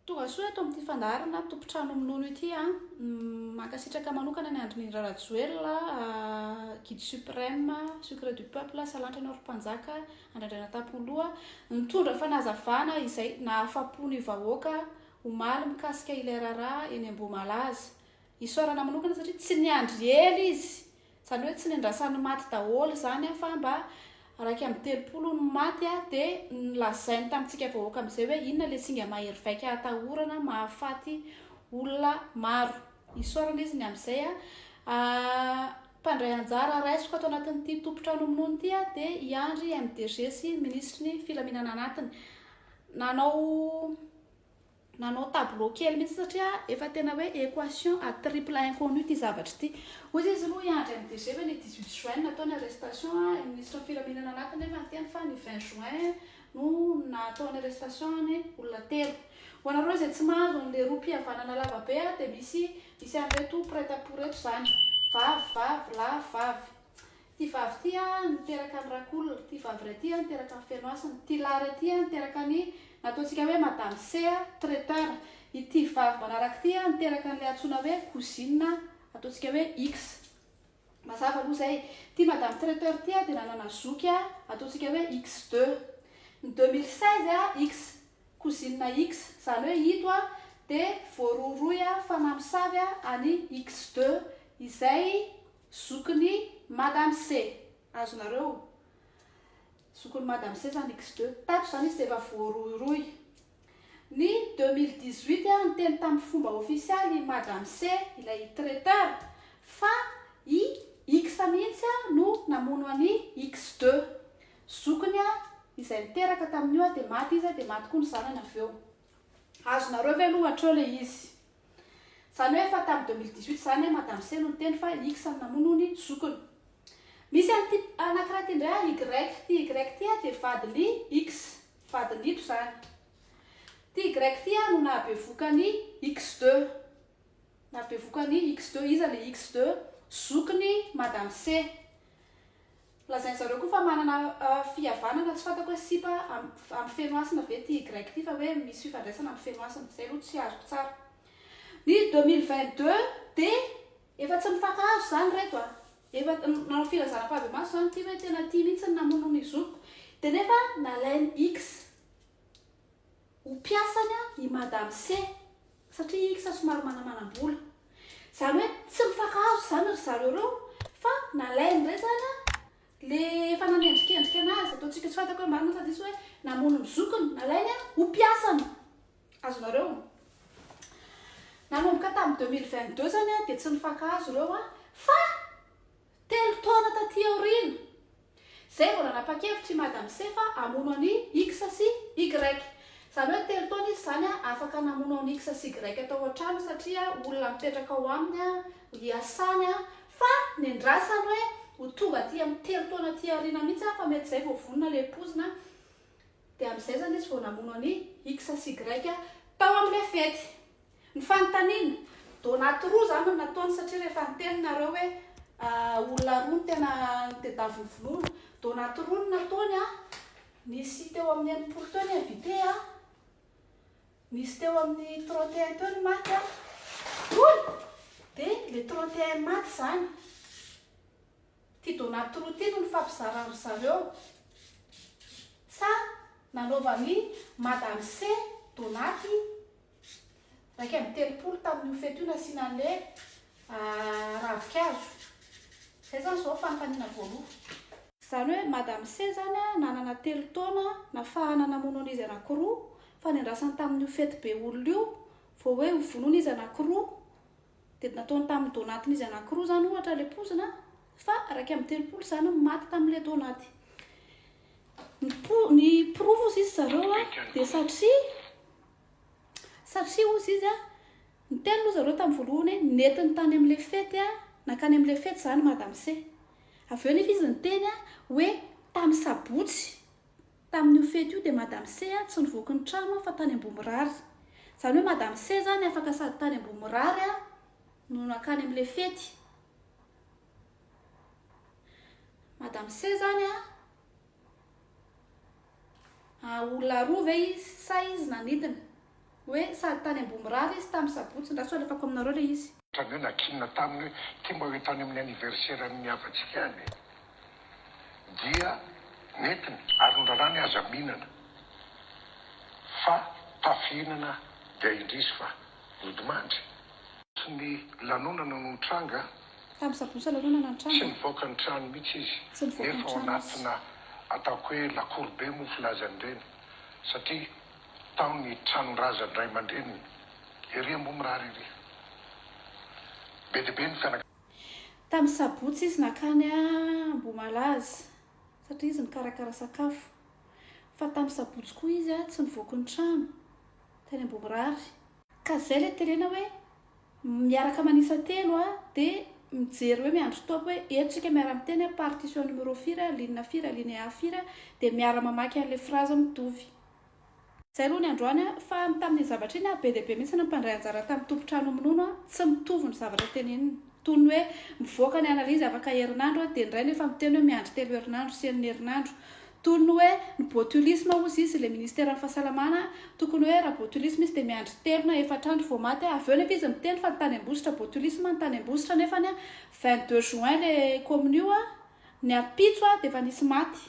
Tonga soa eto amin'ity fandaharana tompon-trano minono ity an! Mankasitraka manokana an'i Andrinindra Rajoelina, Guide Supreme, Secret du Peuple, Salantra anao ry Mpanjaka, Andrandraina Tapoloha, nitondra fanazavana izay nahafapo ny vahoaka omaly mikasika ilay raharaha eny Ambohimalaza. Isaorana manokana satria tsy niandry ela izy Izany hoe tsy niandrasan'ny maty daholo izany an, fa mba iraika amby telopolo no maty an, dia nolazainy tamintsika vahoaka amin'izay hoe inona ilay singa mahery vaika atahorana mahafaty olona maro. Isaorana izy ny amin'izay an. Mpandray anjara raisiko ato anatin'ity tompon-trano minono ity an, dia i Andry MDG sy ny minisitry ny filaminana anatiny. Nanao Nanao tableau kely mihitsy satria efa tena hoe equation à triple inconnu ity zavatra ity. Hoy izy izy no hiandry an'i DG ve ny 18 juin no natao ny arrestation an, i ministra ny filaminana anaty nefa niteny fa ny 20 juin no natao ny arrestation ny olona telo. Ho anareo izay tsy mahazo an'le rohy mpihavanana lava be an dia misy misy an'ireto prête à pour reto izany. Vavy vavy lahy vavy. Ty vavy ty a niteraka ny rakolona, ty vavy iray ty a niteraka ny feno hasina, ty lahy iray ty a niteraka ny nataontsika hoe madame C a, traiteur, ity vavy manaraka ity a niteraka an'ilay antsoina hoe cousine ataontsika hoe X. Mazava aloha izay. Ty madame traiteur ty a dia nanana zoky a ataontsika hoe X deux. Ny deux mille seize a X, cousine X, izany hoe ito a dia voarohirohy a fa mamosavy a an'i X deux izay. Zokiny madame se. Azonareo? Zokiny madame se zany X deux. Tato zany izy dia efa voarohirohy. Ny deux mille dix huit aho niteny tamin'ny fomba ofisialy i madame se ilay traiteur fa i X mihitsy no namono an'i X deux. Zokiny izay niteraka tamin'io dia maty izy dia maty koa ny zanany avy eo. Azonareo ve aloha hatreo ilay izy? Zany hoe efa tam 2018 zany an madame C no niteny fa i X no namono ny zokiny. Misy an'ity anakiray ity indray ary Y, ity Y ity ary dia vadin'i X, vadin'ito zany. Ity Y ity ary no nahabevoka an'i X deux, nahabevoka an'i X deux, iza le X deux? Zokin'i madame C. Lazain-dry zareo koa fa manana fihavanana tsy fantako hoe sipa ampy feno hasina ve ity grec ity fa hoe misy fifandraisana ampy feno hasina. Izay aloha tsy azoko tsara. Ny deux mille vingt deux dia efa tsy mifankahazo izany ry reto a! Efa nanao filazana am-pahabemasy izany ity hoe tena tia mihitsy ny namono ny zokiko dia nefa nalain'i X. ho mpiasany i madame C satria i X somary manamanam-bola. Izany hoe tsy mifankahazo izany ry zareo ireo fa nalainy indray izany le efa nanendrikendrika anazy, ataontsika tsy fantako hoe marina sa diso hoe namono ny zokiny, nalainy ho mpiasany. Azonareo? Nanomboka tamin'ny 2022 izany dia tsy nifankahazo ireo fa Telo taona taty aoriana, izay vao nanapa-kevitra i Madame C fa hamono an'i X sy Y. Izany hoe telo taona izy izany afaka namono an'i X sy Y tao an-trano satria olona mipetraka ao aminy hiasany fa nendrasany hoe ho tonga aty amin'ny telo taona aty aoriana mihitsy fa mety izay vao vonona ilay poizina dia amin'izay izany izy vao namono an'i X sy Y tao amin'ilay fety. Ny fanontaniana, donate roa izany no nataony satria rehefa niteny nareo hoe olona roa no tena nitedaviny vonoana, donate roa no nataony a, nisy teo amin'ny enimpolo teo ny invité a, nisy teo amin'ny trente et un teo ny maty a, hoy dia le trente et un maty izany, ity donate roa ity no nifampizarany ry zareo, sa nanaovan'i madame C donate iraika amby telopolo tamin'io fety io nasiana an'ilay ravinkazo. Izay izany izao fanontaniana voalohany. Izany hoe Madame C izany nanana telo taona nafahana namono an'izy anankiroa fa niandrasany tamin'io fety be olona io vao hoe hovonoina izy anankiroa dia nataony tamin'ny donatin'izy anankiroa izany ohatra ilay pozina fa iraika amby telopolo izany no maty tamin'ilay donaty. Ny, po, ny porofo sisa zareo dia satria Satria hozy izy a, niteny aloha zareo tamin'ny voalohany hoe nentiny tany amin'ilay fety a, nankany amin'ilay fety izany madamse. Avy eo anefa izy niteny a, hoe tamin'ny sabotsy, tamin'io fety io dia madamse a, tsy nivoaka ny trano aho fa tany Ambohimirary. Izany hoe madamse izany afaka sady tany Ambohimirary a, no nankany amin'ilay fety. Madamse izany a. An, olona roa ve izy sa izy nanidina? Hoe sady tany Ambohimirary izy tamin'ny sabotsy, ndra sao alefako aminareo ilay izy. Tany hoe nakiana taminy hoe ity mba hoeto any amin'ny anniversaire an'ny havatsika any e! Dia nentiny ary nondrarany aza mihinana fa tafihinana dia indrisy fa nodimandry. Tsy ny lanonana no nitranga. Tamin'ny sabotsy aloha no nanana ny tranony. Tsy nivoaka ny trano mihitsy izy. Tsy nivoaka ny trano izy. Nefa ao anatina ataoko hoe lacour be moa filazany ireny satria tao ny tranon-drazany ray aman-dreniny. Ery ambony mirary ery. Be dia be ny fianakaviana. Tamin'ny sabotsy izy nankany Ambohimalaza satria izy nikarakara sakafo. Fa tamin'ny sabotsy koa izy tsy nivoaka ny trano teny Ambohimirary. Ka zay le terena hoe miaraka manisa telo a de mijery hoe miandry top hoe eto tsika miara miteny a partition numéro firy a ligne firy alinéa firy a de miara mamaky anle phrase mitovy. Zay aloha ny androany a, fa ny tamin'iny zavatra iny a be dia be mihitsy ny mpandray anjara tamin'ny tompon-trano minono a, tsy mitovy ny zavatra tenenina. Toy ny hoe mivoaka ny analizy afaka herinandro dia indray no efa miteny hoe miandry telo herinandro sy enina herinandro. Toy ny hoe ny botulisme hozy izy ilay ministeran'ny fahasalamana tokony hoe raha botulisme izy dia miandry telo na efatra andro vao maty. Avy eo nefa izy miteny fa ny tany Ambositra botulisme ny tany Ambositra nefa ny vingt deux juin ilay commune io ny ampitso dia efa nisy maty.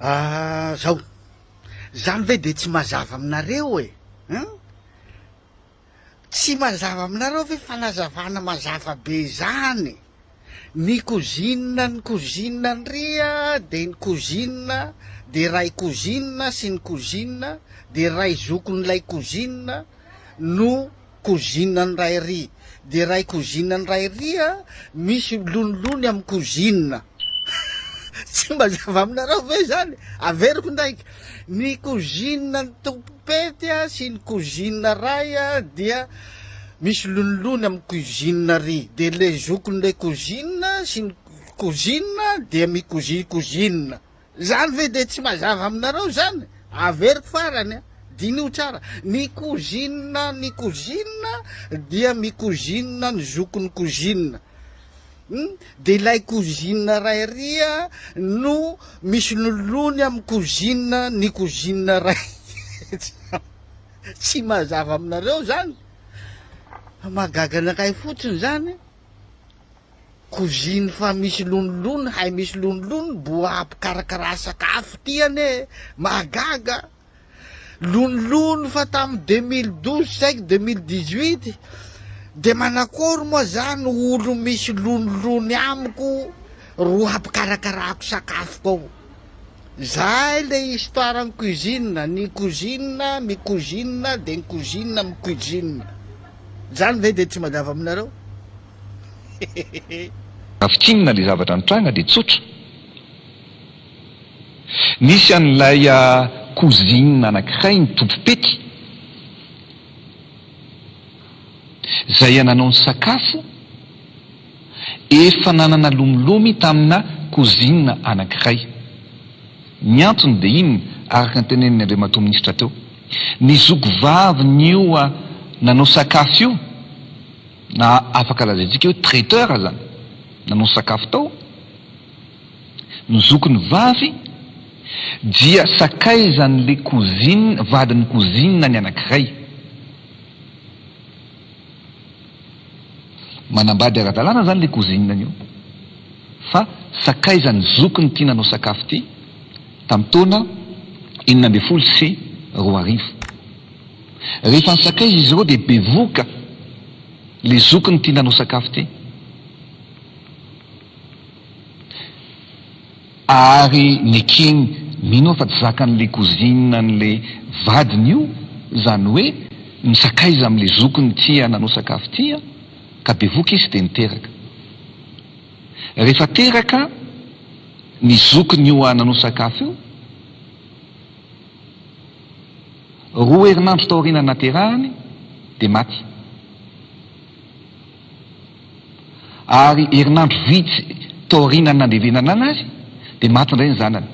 Ah zao. Zany ve de tsy mazava aminareo e? Hein? Tsy mazava aminareo ve fanazavana mazava be zany? Ny cousine ny cousine ndria de ny cousine de ray cousine sy ny cousine de ray zokin'ilay cousine no Cousine an'i Rairy dia Ray cousine an'i Rairy a! Misy lonilony amin'ny cousine. Tsy mba zava aminareo ve izany? Averiko indraiky, ny cousine an'i Tompopety a sy ny cousine Ray a dia misy lonilony amin'ny cousine ry, dia ilay zokin'ilay cousine sy ny cousine dia mi-cousine cousine. Izany ve dia tsy mazava aminareo izany? Averiko farany an! Diniho tsara, ny cousine ny cousine dia mi-cousine ny zokin'ny cousine, hum! dia ilay cousine ray ary no misololony amin'ny cousine ny cousine ray tsam! Tsy mazava aminareo izany? Mahagaga anakay fotsiny izany! Koziny fa misy lonilony hay misy lonilony boa mpikarakara sakafo ty anie e! mahagaga a! lonilony fa tamin'ny deux mille douze saiky deux mille dix huit de manakory moa zany olo misy lonilony amiko ro hampikarakarako sakafoko ao zay le histoire ny cuisine ny kozina mikozina de ny kozina micuisine zany ve de tsy manjavy aminareo? Hehehehe. Raha fintinina ilay zavatra nitranga dia tsotra. Nisy an'ilay cousine anankiray nitompo pety, izay nanao ny sakafo efa nanana lomilomy tamina cousine anankiray. Ny antony dia inona, araka ny tenenin'ny Andriamatoa Minisitra teo? Ny zokivavin'io nanao sakafo io, Na afaka lazaintsika hoe traiteur aza nanao sakafo tao ny zokiny vavy dia sakaizan'ilay cousine, vadin'ny cousine ny anankiray. Manambady ara-dalàna izany ilay cousine io fa sakaizan'ny zokiny ity nanao sakafo ity tamin'ny taona enina ambin'ny folo sy roa arivo. Rehefa nisakaiza izy ireo dia bevohoka ilay zokiny tia nanao sakafo teny. Ary nekeny, mino aho fa tsy zakan'ilay cousine an'ilay vadiny io izany hoe nisakaiza amin'ilay zokiny tia nanao sakafo tia an, ka bevohoka izy dia niteraka. Rehefa teraka ny zokin'io nanao sakafo io, Roa herinandro taorian'ny naterahany dia maty. Ary herinandro vitsy taorian'ny nandevenanana azy dia maty indray ny zanany.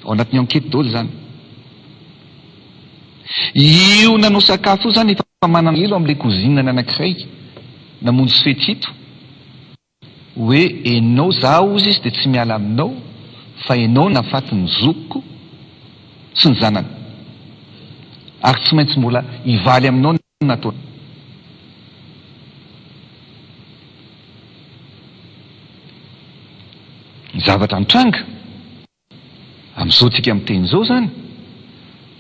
Ao anatin'ny enquête daholo izany. Io nanao sakafo io izany efa manana elo amin'ilay cousine-ny anankiray namonjy fety ito. Hoe enao zaho hozy izy dia tsy miala aminao fa enao nafaty ny zokiko sy ny zanany ary tsy maintsy mbola hivaly aminao ny nataony ny zavatra nitranga. Amin'izao tsika miteny izao izany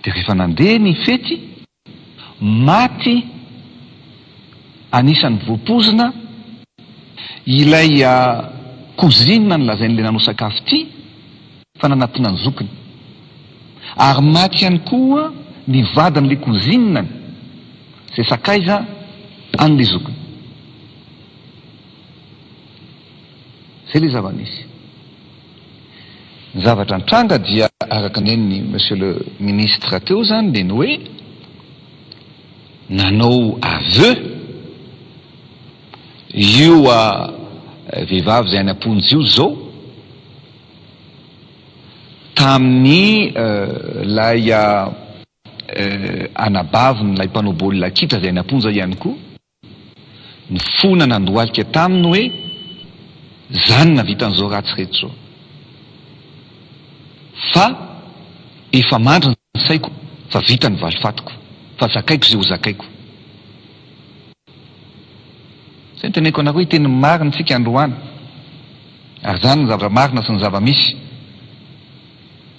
dia rehefa nandeha ny fety, maty anisan'ny voapoizina ilay cousine nolazain'ilay nanao sakafo ity fa nanatona ny zokiny. Ary maty ihany koa ny vadin'ilay cousine-ny izay sakaiza an'ilay zokiny. Izay ilay zava-nisy. Ny zavatra nitranga dia araka ny nen'i Monsieur le Ministre teo izany dia ny hoe nanao aveu io vehivavy izay any am-ponja io izao tamin'ny ilay anabavin'ilay mpanao baolina kitra izay any am-ponja ihany koa. Ny fona nandohalika taminy hoe, Zany navitan'izao ratsy rehetra izao. Fa efa mandry ny saiko fa vita ny valifatiko, fa zakaiko izay ho zakaiko. Izay no teneniko anareo, hiteny ny marina isika androany, ary izany no zava-marina sy ny zava-misy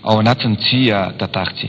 ao anatin'ity tantara ity.